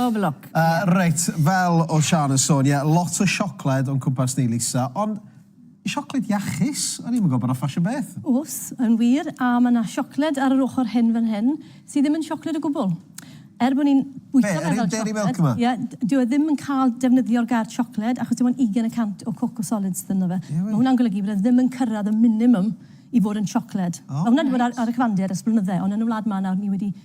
Pob lwc. Yy reit, fel o'dd Siân yn sôn, ie, lot o siocled o'n cwmpas ni, Lisa, ond siocled iachus? O'n i'm yn gwbod bod 'na ffasiwn am beth. O's, yn wir, a ma' 'na siocled ar yr ochr hyn fan hyn sy ddim yn siocled o gwbwl. Er bo' ni'n bwyta fe fel siocled... Be', yr un Dairy Milk 'ma? Ie, d- dyw e ddim yn ca'l defnyddio'r gair siocled achos dim ond ugain y cant o cocoa solids sy ynddo fe. Ie wir? Ma' hwnna'n golygu bod e ddim yn cyrradd y minimum i fod yn siocled. O reit. Ma' hwnna 'di bod ar ar y cyfandir ers blynydde, ond yn y wlad 'ma nawr ni wedi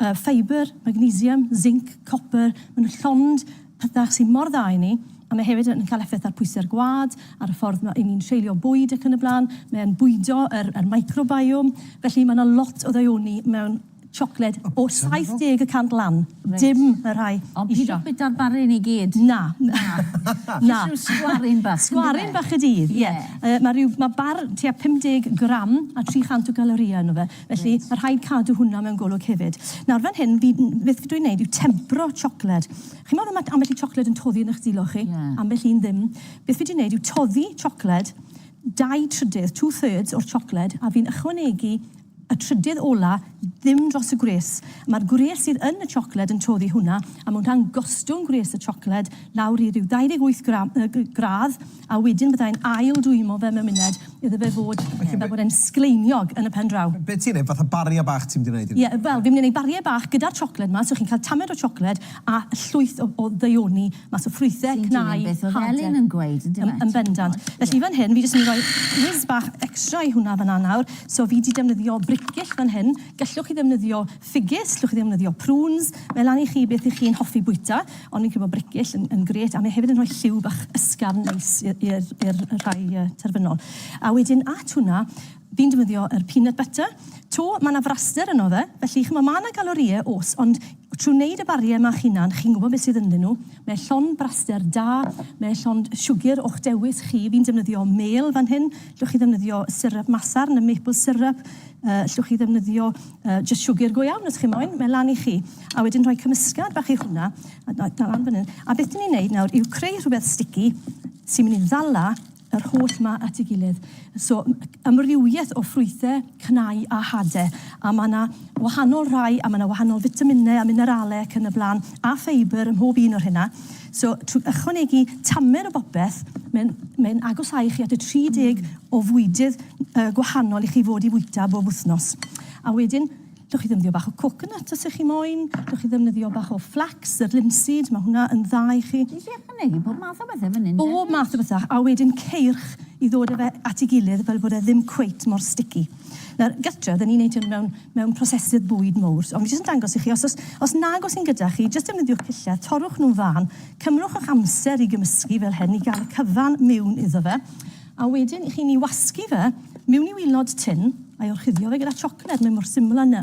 y ffeibr, magnesium, zinc, copr, maen nhw'n llond pethau sydd mor dda i ni, a mae hefyd yn cael effaith ar pwysau'r gwad, ar y ffordd mae ni'n treulio bwyd ac yn y blaen, mae'n bwydo yr, yr microbiome, felly mae yna lot o ddaioni mewn siocled o 70 y cant lan, dim y rhai isio. Ond pidwch bwyta'r barun i gyd. Na, na, na. Jyst rhyw sgwaryn bach. Sgwaryn bach y dydd, ie. Yy, mae rhyw, mae bar tua 50 gram a 300 o galorïau ynddo fe. Felly, ma' rhaid cadw hwnna mewn golwg hefyd. Nawr, fan hyn, fi... beth dw i'n neud yw tempro siocled. Chimod fel ma' ambell i siocled yn toddi yn 'ych dwylo chi? Ie. Ambell un ddim. Beth fi 'di neud yw toddi siocled, dau trydydd, two thirds, o'r siocled, a fi'n ychwanegu y trydydd ola ddim dros y gwres. Ma'r gwres sydd yn y siocled yn toddi hwnna, a ma' hwnna'n gostwng gwres y siocled lawr i ryw 28 gra- yy g- gradd, A wedyn byddai'n ail dwymo fe mewn muned iddo fe fod fel bod e'n sgleiniog yn y pen draw. Be ti'n neud, fatha baria bach ti'n mynd i neud i fe? Ie, wel fi'n mynd i neud barie bach gyda'r chocolate 'ma, so chi'n cael tamed o chocolate a llwyth o o ddaioni mas o ffrwythe, cnau, hade. Ti'n dilyn beth o'dd Elin yn gweud yndyw e? Yn yn bendant. Felly fan hyn fi jyst yn mynd i roi whiz bach extra i hwnna fan 'na nawr, so fi 'di defnyddio bricyll fan hyn, gellwch chi ddefnyddio Ffigys, llwch chi ddefnyddio prunes, mae lan i chi beth i chi'n hoffi bwyta, ond fi'n credu bod brecgill yn, yn gret, a mae hefyd yn rhoi lliw bach ysgafn neis i'r, i'r rhai uh, terfynol. A wedyn at hwnna, fi'n defnyddio yr peanut butter, to, mae yna fraster yno fe, felly chymod, mae yna galorie, os, ond trwy wneud y bariau yma chinan, chi'n gwybod beth sydd ynddyn nhw, mae llon braster da, mae llon siwgr o'ch dewis chi, fi'n defnyddio mêl fan hyn, llwch chi ddefnyddio syrup masarn, y maple syrup, Yy, 'llwch chi ddefnyddio yy jyst siwgr go iawn os chi moyn, mae lan i chi. A wedyn rhoi cymysgad bach i hwnna, a da- dal lan fan 'yn. A beth 'dyn ni'n neud nawr yw creu rhwbeth sticky sy'n myn' i ddala yr holl 'ma at 'i gilydd. So, m- yy amrywieth o ffrwythe, cnau a hade. A ma' 'na wahanol rai a ma' 'na wahanol fitamine a minerale ac yn y bla'n, a ffeibr ym mhob un o rheina. So, trwy ychwanegu tamer o bopeth, mae'n mae agosáu chi at y 30 mm. o fwydydd uh, gwahanol i chi fod i fwyta bob wythnos. A wedyn, Dwch chi ddefnyddio bach o coconut os ych chi moyn, dwch chi ddefnyddio bach o flax, yr linseed, mae hwnna yn dda i chi. Ti'n siarad yn egin bob math o bethau fan hyn? Bob math o bethau, a wedyn ceirch i ddod â fe at ei gilydd fel bod e ddim cweit mor sticky. Nawr, gytre, oedden ni'n neud hyn mewn, mewn prosesydd bwyd mowr. So, o'n i jyst yn dangos i chi, os, os, os nag oes un gyda chi, jyst defnyddiwch pilledd, torrwch nhw'n fân, cymrwch eich amser i gymysgu fel hyn, i gael y cyfan miwn iddo fe, a wedyn i chi'n i wasgu fe miwn i wilod tin, a'i orchuddio fe gyda chocolate, mae mor syml â 'ny.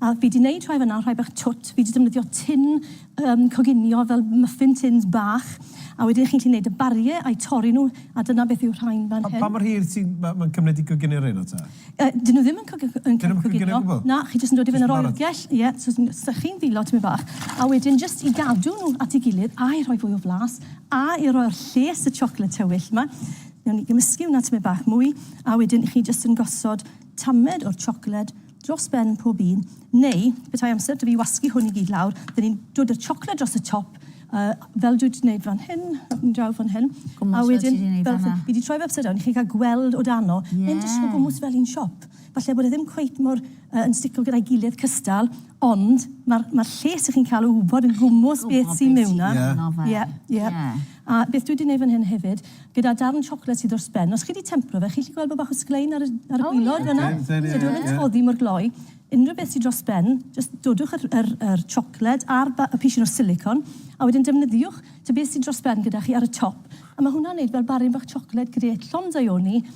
A fi 'di neud rhai fan 'na, rhai bach twt. Fi 'di defnyddio tin yym coginio fel muffin tins bach a wedyn chi'n gallu neud y barie a'u torri nhw a dyna beth yw'r rhain fan hyn. Pa mor hir ti ma' ma'n cymryd i goginio reina ta? Yy 'dyn nhw ddim yn cogi- yn ca'l coginio. Dyn nhw'm yn coginio o gwbwl? Na, chi jyst yn dod i fyny yr oergell, ie, so ti'n sychu'n ddileu tipyn bach a wedyn jyst i gadw nhw at ei gilydd a'i rhoi fwy o flas a i roi'r lles y chocolate tywyll 'ma, newn ni gymysgu hwnna tipyn bach mwy a wedyn chi jyst yn gosod tamed o'r chocolate dros ben pob un, neu petai amser 'da fi wasgu hwn i gyd lawr, dyn ni'n dod â'r chocolate dros y top, uh, fel dwi wedi gwneud fan hyn, yn draw fan hyn, a wedyn, fel, fi wedi troi fe upside down, chi'n cael gweld o dano, yeah. mae'n dysgu gwmwys fel un siop. Falle bod e ddim cweit mor uh, yn stico gyda'i gilydd cystal, ond mae'r ma lles ych chi'n cael o wybod yn gwmwys beth sy'n mewn na. Ie, ie. A beth dwi 'di neud fan hyn hefyd, gyda darn siocled sydd dros ben, os chi 'di tempro fe, chi'n gallu gweld bod bach o sglein ar y ar y gwilod fan 'na? Oce, ie, ie, ie. So dyw e ddim oddi mor gloi. Unrhyw beth sy dros ben, jyst dodwch yr yr yr siocled a'r ba- y pishyn o silicone, a wedyn defnyddiwch te beth sy dros ben gyda chi ar y top, a ma' hwnna'n neud fel baryn bach siocled grêt llond daioni,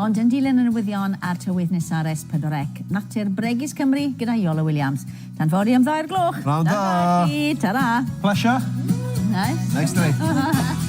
Ond yn dilyn y newyddion a'r tywydd nesa ar S4C, natur bregus Cymru gyda Iolo Williams. Tan fory am ddau o'r gloch. Pnawn da! Tan fory! Ta-ra! Plesio! Nice. Neis da ni.